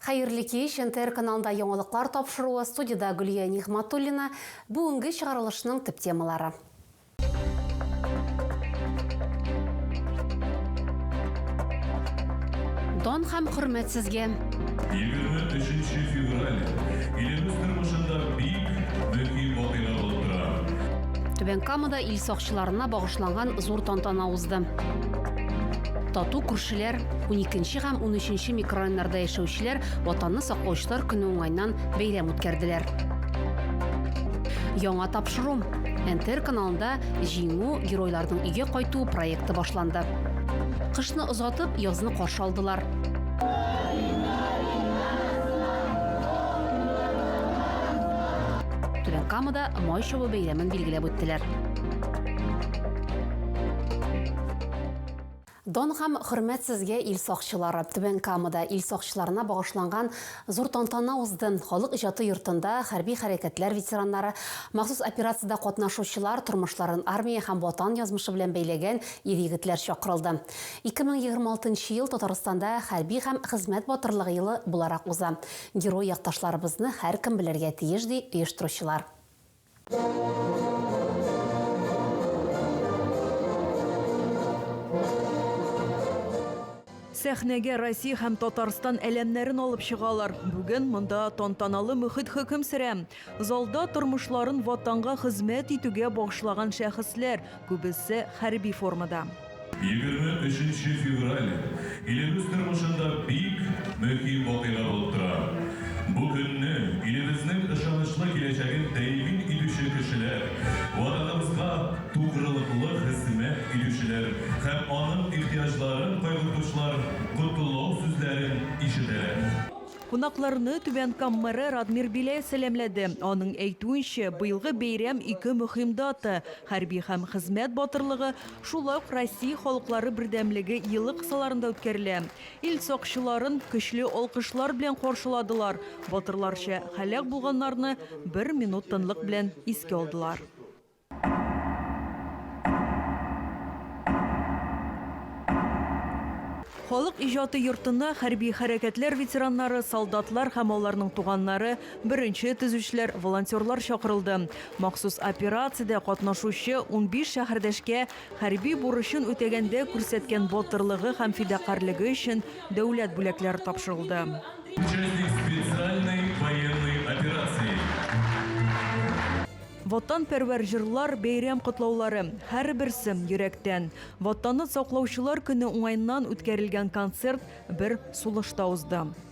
Хәерле кич! НТР каналында яңалыклар тапшыруы, студиядә Гөлия Нигъматуллина. Бүгенге чыгарылышның төп темалары. Дан һәм хөрмәт сезгә! Егерме өченче февраль илебез тормышында бик мөһим вакыйга булып тора. Түбән Камада ил сакчыларына багышланган зур тантана узды. Тату күршеләр, Уникенче һәм унөченче микрорайоннарда яшәүчеләр Ватанны саклаучылар көне уңайнан бәйрәм үткәрделәр. Яңа тапшыру. НТР каналында Җиңү, геройларның өйгә кайтуы проекты башланды. Кышны озатып, язны каршы алдылар. Түбән Камада Май чабу бәйрәмен билгеләп үттеләр. Дан һәм хөрмәт сезгә, ил сакчылары! Түбән Камада ил сакчыларына багышланган зур тантана узды. Халык иҗаты йортында хәрби хәрәкәтләр ветераннары, махсус операциядә катнашучылар, тормышларын армия һәм Ватан язмышы белән бәйләгән ир-егетләр чакырылды. 2026 нчы ел Татарстанда Хәрби һәм хезмәт батырлыгы елы буларак уза. Герой якташларыбызны һәркем белергә тиеш, ди оештыручылар. Сәхнәгә Россия һәм Татарстан әләмнәрен алып чыгалар. Бүген монда тантаналы мөхит хөкем сөрә. Залда тормышларын Ватанга хезмәт итүгә багышлаган шәхесләр, күбесе хәрби формада. Егерме өченче февраль илебез тормышында бик мөһим вакыйга булып тора. Бу көнне илебезнең ышанычлы киләчәген тәэмин итүче кешеләр, Ватаныбызга тугрылыклы хезмәт итүчеләр һәм аның ихтыяҗларын кайгыртучылар котлау сүзләрен ишетәләр. Кунакларны Түбән Кам мэры Радмир Беляев сәламләде. Аның әйтүенчә, быелгы бәйрәм ике мөһим дата, хәрби һәм хезмәт батырлыгы, Шулай ук Россия Халыклары бердәмлеге елы кысаларында үткәрелә. Ил сакчыларын көчле алкышлар белән каршыладылар, батырларча һәлак булганнарны бер минут тынлык белән искә алдылар. Халык иҗаты йортына хәрби хәрәкәтләр ветераннары, солдатлар һәм аларның туганнары, Беренче төзүчеләр, волонтерлар чакырылды. Махсус операциядә катнашучы унбиш шәһәрдәшкә хәрби бурычын үтәгәндә күрсәткән батырлыгы һәм фидакарьлеге өчен дәүләт бүләкләре тапшырылды. Участник специальной военной операции. Ватанпәрвәр җырлар, бәйрәм котлаулары, һәрберсе, йөрәктән. Ватанны саклаучылар көне уңаеннан үткәрелгән концерт бер сулышта узды.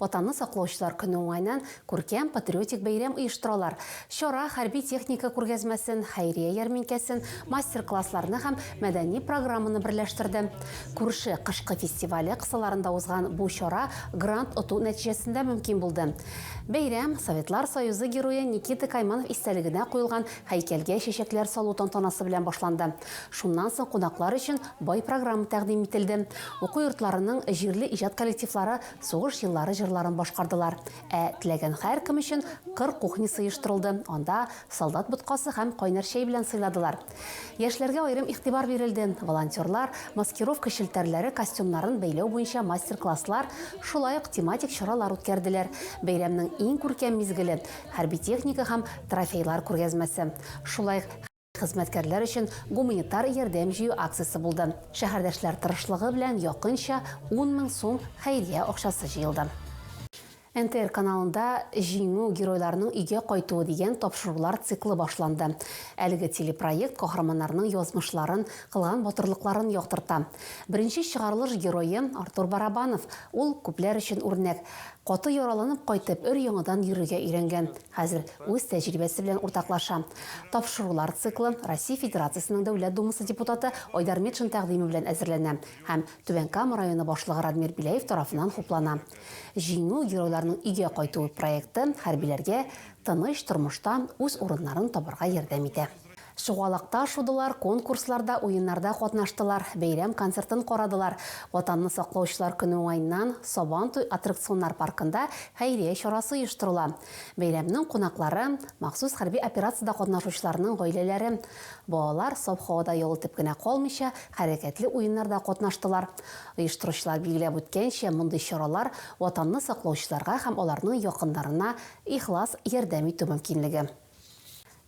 Ватанны саклаучылар көне уңаеннан күркәм патриотик бәйрәм оештыралар. Чара хәрби техника күргәзмәсен, хәйрия ярминкәсен, мастер-классларны һәм мәдәни программаны берләштерде. Күрше кышкы фестивале кысаларында узган бу чара грант оту нәтиҗәсендә мөмкин булды. Бәйрәм Советлар Союзы Герое Никита Кайманов истәлегенә куелган һәйкәлгә чәчәкләр салу тантанасы белән башланды. Шуннан соң кунаклар өчен бай программа тәкъдим ителде. Уку йортларының җирле иҗат коллективлары Сугыш еллары җырларын башкардылар. Ә теләгән һәркем өчен кыр кухнясы оештырылды, анда солдат боткасы һәм кайнар чәй белән сыйладылар. Яшьләргә аерым игътибар бирелде, волонтерлар маскировка челтәрләре костюмнарын бәйләү буенча мастер-класслар, шулай ук тематик чаралар үткәрделәр. Бәйрәмнең иң күркәм мизгеле, хәрби техника һәм трофейлар күргәзмәсе, шулай Хезмәткәрләр өчен гуманитар ярдәм җыю акциясе булды. Шәһәрдәшләр тырышлыгы белән якынча ун мең сум хәйрия акчасы җыелды. НТР каналында Җиңү, геройларның өйгә кайтуы дигән тапшырулар циклы башланды. Әлеге телепроект каһарманнарның язмышларын, кылган батырлыкларын яктырта. Беренче чыгарылыш герое, Артур Барабанов. Ул, күпләр өчен үрнәк. Каты яраланып кайтып, өр-яңадан йөрергә өйрәнгән. Хәзер үз тәҗрибәсе белән уртаклаша. Тапшырулар циклы Россия Федерациясенең Дәүләт Думасы депутаты Айдар Метшин тәкъдиме белән әзерләнә һәм Түбән Кама районы башлыгы Радмир Беляев тарафыннан хуплана. Җиңү, геройларның өйгә кайтуы проекты хәрбиләргә тыныч тормышта үз урыннарын табарга ярдәм итә. Чугалакта шудылар, конкурсларда, уеннарда катнаштылар, бәйрәм концертын карадылар, Ватанны саклаучылар көне уңаеннан Сабантуй аттракционнар паркында хәйрия чарасы оештырыла. Бәйрәмнең кунаклары, махсус хәрби операциядә катнашучыларның гаиләләре. Балалар саф һавада ял итеп кенә калмыйча, хәрәкәтле уеннарда катнаштылар. Оештыручылар билгеләп үткәнчә, мондый чаралар, Ватанны саклаучыларга һәм аларның якыннарына ихлас ярдәм итү мөмкинлеге.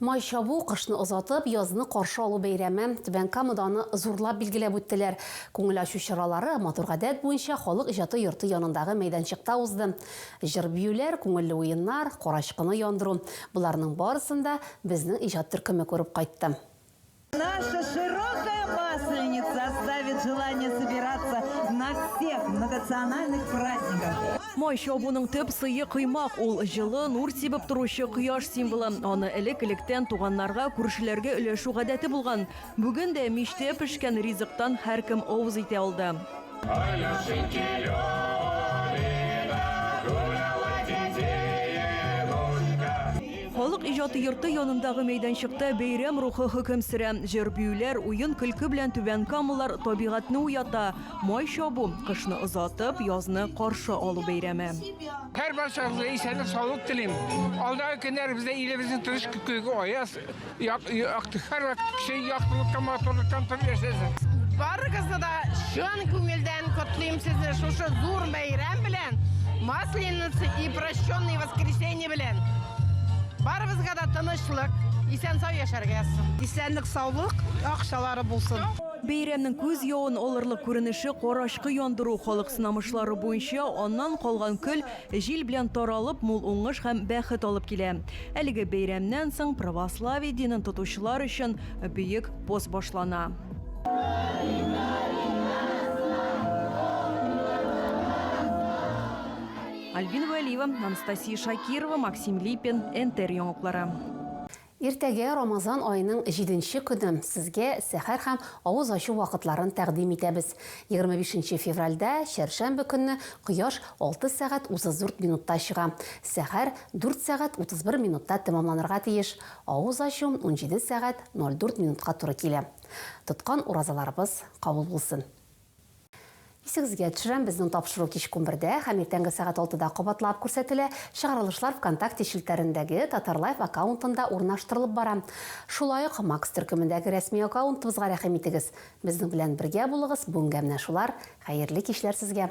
Май чабу, кышны озатып, язны каршы алу бәйрәме, Түбән Камада аны зурлап билгеләп үттеләр. Күңел ачу чаралары матур гадәт буенча Халык иҗаты йорты янындагы мәйданчыкта узды. Җыр-биюләр, күңелле уеннар, карачкыны яндыру, боларның барысын да безнең иҗат төркеме күреп кайтты. Наша широкая масленица оставит желание собираться на всех многонациональных праздниках. Май чабуның төп сые кыймак, ул җылы, нур сибеп торучы кояш символы. Аны элек-электән туганнарга, күршеләргә өләшү гадәте булган. Бүген дә мичтә пешкән ризыктан һәркем авыз итә алды. Халык иҗаты йорты янындагы мәйданчыкта бәйрәм рухы хөкем сөрә. Җыр-биюләр, уен-көлке белән Түбән Камалар табигатьне уята. Май чабу, кышны озатып, язны каршы алу бәйрәме. Һәрбарчагызга исәнлек-саулык телим! Алдагы көннәребездә илебезнең тырыш күкрәге аяз, Барыгызны да чын күңелдән котлыйм сезне шушы зур бәйрәм белән, Масленица и прощенный воскресенье белән. Барыбызга да тынычлык, исән-сау яшәргә язсын. Исәнлек, саулык, акчалары булсын. Бәйрәмнең күз явын алырлык күренеше карачкы яндыру, халык сынамышлары буенча аннан калган көл, Җил белән таралып, мул уңыш һәм бәхет алып килә. Әлеге бәйрәмнән соң православие динен тотучылар өчен бөек пост башлана. Альбина Вәлиева, Анастасия Шакирова, Максим Липин, НТР яңалыклары. Иртәгә, Рамазан аеның җиденче көне, сезгә сәхәр һәм авыз ачу вакытларын тәкъдим итәбез. Егерме бишенче февральдә, чәршәмбе көнне, кояш алты сәгать утыз дүрт минутта чыга. Сәхәр дүрт сәгать утыз бер минутта тәмамланырга тиеш. Авыз ачу унҗиде сәгать ноль дүрт минутка туры килә. Тоткан уразаларыбыз кабул булсын! Исегезгә төшерәм, безнең тапшыру кичке унбердә һәм иртәнге сәгать алтыда кабатлап күрсәтелә. Чыгарылышлар ВКонтакте челтәрендәге Татарлайф аккаунтында урнаштырылып бара. Шулай ук Макс төркемендәге рәсми аккаунтыбызга рәхим итегез. Безнең белән бергә булыгыз, бүгенгә менә шулар, хәерле кичләр сезгә!